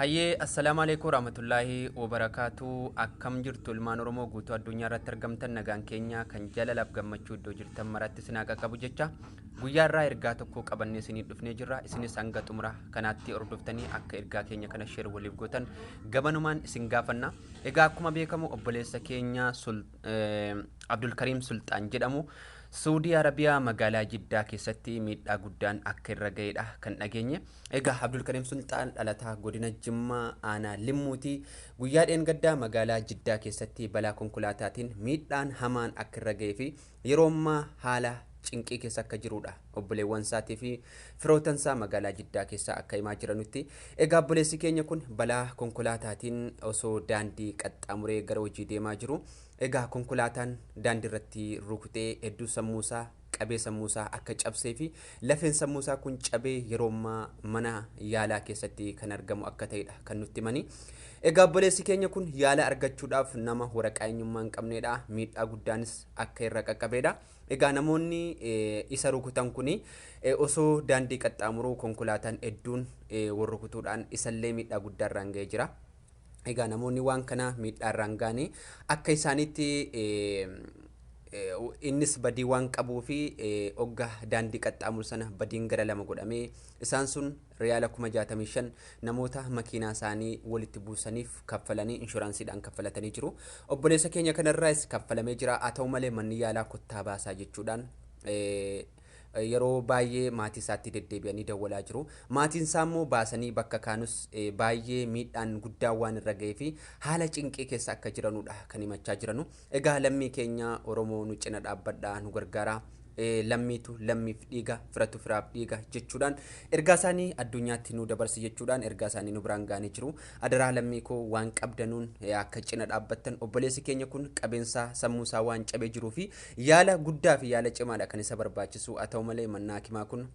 Hayyee assalaamu aleekum waraamatullaahi wobarakaatu akkam jirtu ilmaan oromoo guutuu addunyaa irratti argamtan nagaan keenya kan jalalaaf gammachuu iddoo jirtan maraatti isin haa qaqqabu jecha guyyaa irraa ergaa tokko qabannee isinii dhufnee jirra isinis hanga xumura kanaatti hordoftanii akka ergaa keenya kana sheer waliif gootan gabanumaan isin gaafanna egaa akkuma beekamu obboleessa keenya sul abdulkariim sulxaan jedhamu Suudii Arabiyaa magaalaa Jiddaa keessatti miidhaa guddaan akka irra ga'edha kan dhageenye. Egaa Abdulkariim Sulxaan dhalataa godina Jimmaa aanaa Limmuuti. Guyyaa dheengaddaa magaalaa Jiddaa keessatti balaa konkolaataatiin miidhaan hamaan akka irra ga'ee fi yeroo ammaa haala cinqii keessa akka jiruudha obboleewwansaatii fi firootansaa magaalaa Jiddaa keessaa akka himaa jiranutti. Egaa obboleessi keenya kun balaa konkolaataatiin osoo daandii qaxxaamuree gara hojii deemaa jiru egaa konkolaataan daandii irratti rukutee hedduu sammuusaa qabee sammuu isaa akka cabsee fi lafeen sammuu isaa kun cabee yeroo ammaa mana yaalaa keessatti kan argamu akka ta'edha kan nutti himanii. Egaa obboleessi keenya kun yaala argachuudhaaf nama waraqaa eenyummaa hin qabneedha. Miidhaa guddaanis akka irra qaqqabeedha. Egaa namoonni eh, isa rukutan kun eh, osoo daandii qaxxaamuruu konkolaataan hedduun eh, wal rukutuudhaan isallee miidhaa guddaa irraan ga'ee jira. Egaa namoonni waan kana miidhaarraan ga'anii akka isaaniitti innis badii waan qabuu fi ogga daandii qaxxaamuru sana badiin gara lama godhamee isaan sun riyaala kuma jaatamii shan namoota makiinaa isaanii walitti buusaniif kaffalanii inshuraansiidhaan kaffalatanii jiru. Obboleessa keenya kanarraas kaffalamee jira. Haa ta'u malee manni yaalaa kottaa baasaa jechuudhaan Yeroo baayyee maatiisaatti deddeebi'anii dawwalaa jiru. Maatiinsaammoo baasanii bakka kaanus baayyee miidhaan guddaan waan irra ga'eefi haala cinqii keessa akka jiranudha kan himachaa jiranu. Egaa lammii keenya Oromoo nu cina dhaabbadhaa nu gargaaraa. Lammiitu lammiif dhiiga, firatu firaaf dhiiga jechuudhaan ergaasaanii addunyaatti nu dabarsi jechuudhaan ergaasaanii nu biraan ga'anii jiru. Adaraa lammii koo waan qabdanuun akka cina dhaabbattan obboleessi keenya kun qabeensaa sammuusaa waan cabee jiruufi Yaala guddaa fi yaala cimaadha kan isa barbaachisu, haa ta'u malee mannaa hakimaa kun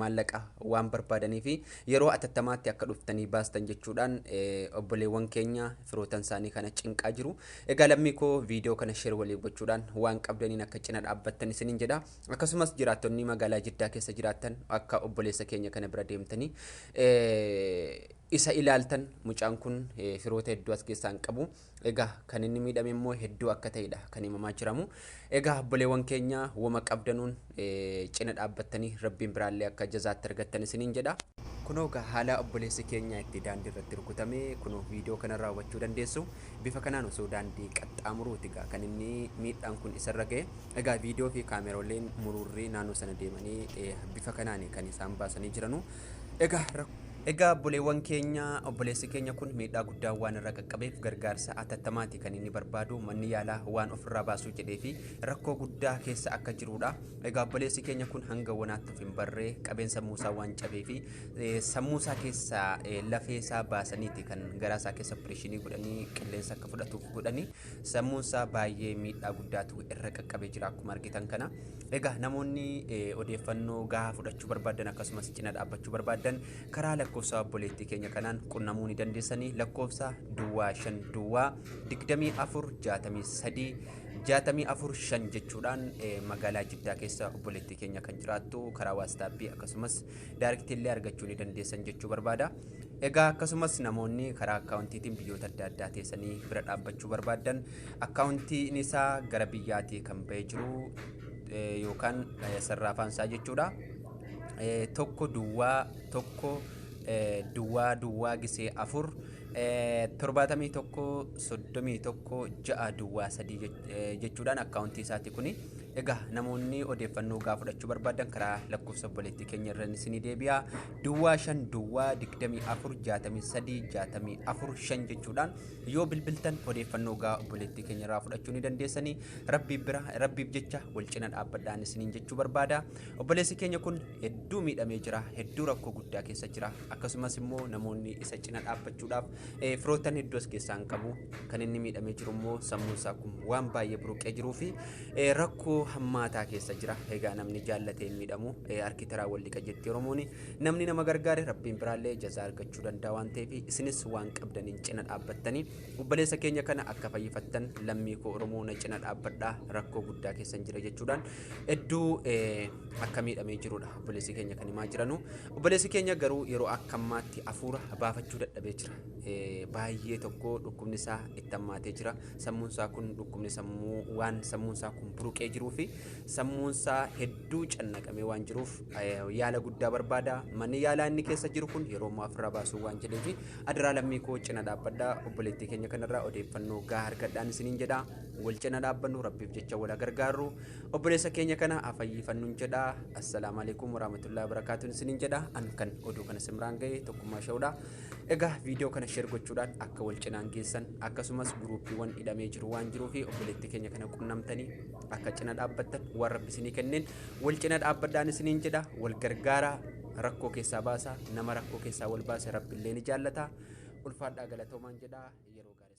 maallaqa waan barbaadaniif yeroo atattamaatti akka dhuftanii baastan jechuudhaan obboleewwan keenya firootan isaanii kana cinqaa jiru. Egaa lammii koo viidiyoo kana sheer walii gochuudhaan waan qabdaniin akka cina dhaabbattan isiniin jedha. Akkasumas jiraattonni magaalaa Jiddaa keessa jiraattan akka obboleessa keenya kana bira deemtanii isa ilaaltan mucaan kun firoota hedduu as keessaa hin qabu. Egaa kan inni miidhame immoo hedduu akka ta'edha kan himamaa jiramu. Egaa obboleewwan keenya woma qabdanuun eh, cina dhaabbattanii rabbiin biraallee akka jazaatti argattan isiniin jedha. Kunoo egaa haala obboleessi keenya itti daandii irratti rukutame kunoo viidiyoo kanarraa hubachuu dandeessu. Bifa kanaan osoo daandii qaxxaamuruuti egaa kan inni miidhaan kun isarra ga'e. Egaa viidiyoo fi kaamerooleen muruurri naannoo sana deemanii eh, bifa kanaan kan isaan baasanii jiranu. Egaa rak- Egaa obboleewwan keenya, obboleessi keenya kun miidhaa guddaan waan irra qaqqabeef gargaarsa atattamaati kan inni barbaadu manni yaalaa waan ofirraa baasuu jedhee fi rakkoo guddaa keessa akka jiruudha. Egaa obboleessi keenya kun hanga wanaatti of hin barree qabeen sammuu isaa waan cabee fi eh, sammuu isaa keessaa eh, lafee isaa baasaniiti kan garaa isaa keessa opereeshinii godhanii qilleensa akka fudhatuuf godhanii sammuun isaa baay'ee miidhaa guddaatu irra qaqqabee jira akkuma argitan kana. Egaa namoonni eh, odeeffannoo gahaa fudhachuu barbaadan akkasumas cina dhaabbachuu barbaadan karaa lakkoofsa obboleettii keenya kanaan qunnamuu ni dandeessanii lakkoofsa duwwaa shan duwwaa digdamii afur jaatamii sadii jaatamii afur shan jechuudhaan eh, magaalaa Jiddaa keessa obboleettii keenya kan jiraattu karaa waastaappii akkasumas daariktiillee argachuu ni dandeessan jechuu barbaada. Egaa akkasumas namoonni karaa akkaawuntiitiin biyyoota adda addaa teessanii bira dhaabbachuu barbaaddan akkaawuntiin isaa gara biyyaatii kan ba'ee jiru eh, yookaan eh, sarraafaan isaa jechuudha. Eh, tokko duwwaa tokko eh, duwwaa duwwaa gisee afur eh, torbaatamii tokko soddomii tokko ja'a duwwaa sadii jech- eh, jechuudhaan akkaawuntii isaati kuni. Egaa namoonni odeeffannoo gaa fudhachuu barbaadan karaa lakkoofsa obboleettii keenya irra isinii deebi'a. Duwwaa 5 Duwwaa 24 63 64 5 jechuudhaan yoo bilbiltan odeeffannoo gaa obboleettii keenya irraa fudhachuu ni dandeessanii rabbiif bira rabbiif jecha wal cina dhaabbadhaan isiniin jechuu barbaada obboleessi keenya kun hedduu miidhamee jira hedduu rakkoo guddaa keessa jira akkasumas immoo namoonni isa cina dhaabbachuudhaaf eh, firoottan hedduus keessaan qabu kan inni miidhamee jiru immoo sammuun isaa kun waan baay'ee buruqee jiruu fi Eh, rakkoo hammaataa keessa jira egaa namni jaallate hin miidhamu eh, harki taraa wal dhiqa jetti oromooni namni nama gargaare rabbiin biraallee jazaa argachuu danda'a waan ta'eef isinis waan qabdaniin cina dhaabbattanii obboleessa keenya kana akka fayyifattan lammii koo oromoo na cina dhaabbadhaa rakkoo guddaa keessan jira jechuudhaan hedduu eh, akka miidhamee jirudha obboleessi keenya kan himaa jiranu obboleessi keenya garuu yeroo akka ammaatti hafuura baafachuu dadhabee jira Eh, baay'ee tokko dhukkubni isaa itti hammaatee jira Sammuunsaa kun dhukkubni sammuu waan sammuunsaa kun buruqee jiruu fi sammuunsaa hedduu cannaqamee waan jiruuf yaala guddaa barbaada. Manni yaalaa inni keessa jiru kun yeroo ammaa ofirraa baasuu waan jedheef adaraa lammii koo cina dhaabbadha. Obboleettii keenya kanarraa odeeffannoo gahaa argadhaan isiniin jedha. Wal cina dhaabbannu rabbiif jecha wal gargaarru. Obboleessa keenya kana afayyifannuun jedha. Assalaamu alaikum warahmatullahi wabarakaatuun isiniin jedha. An kan oduu kana simraan ga'e tokkummaa sha'udha. Egaa viidiyoo kana share gochuudhaan akka wal cinaan geessan akkasumas guruuppiiwwan hidhamee jiru waan jiruu fi obboleettii keenya kana qunnamtanii akka cina dhaabbattan waan rabbi isinii kenneen wal cina dhaabbadhaan isiniin jedha wal gargaaraa rakkoo keessaa baasaa nama rakkoo keessaa wal baase rabbi illee ni jaallata ulfaadhaa galatoomaan jedha yeroo gaarii.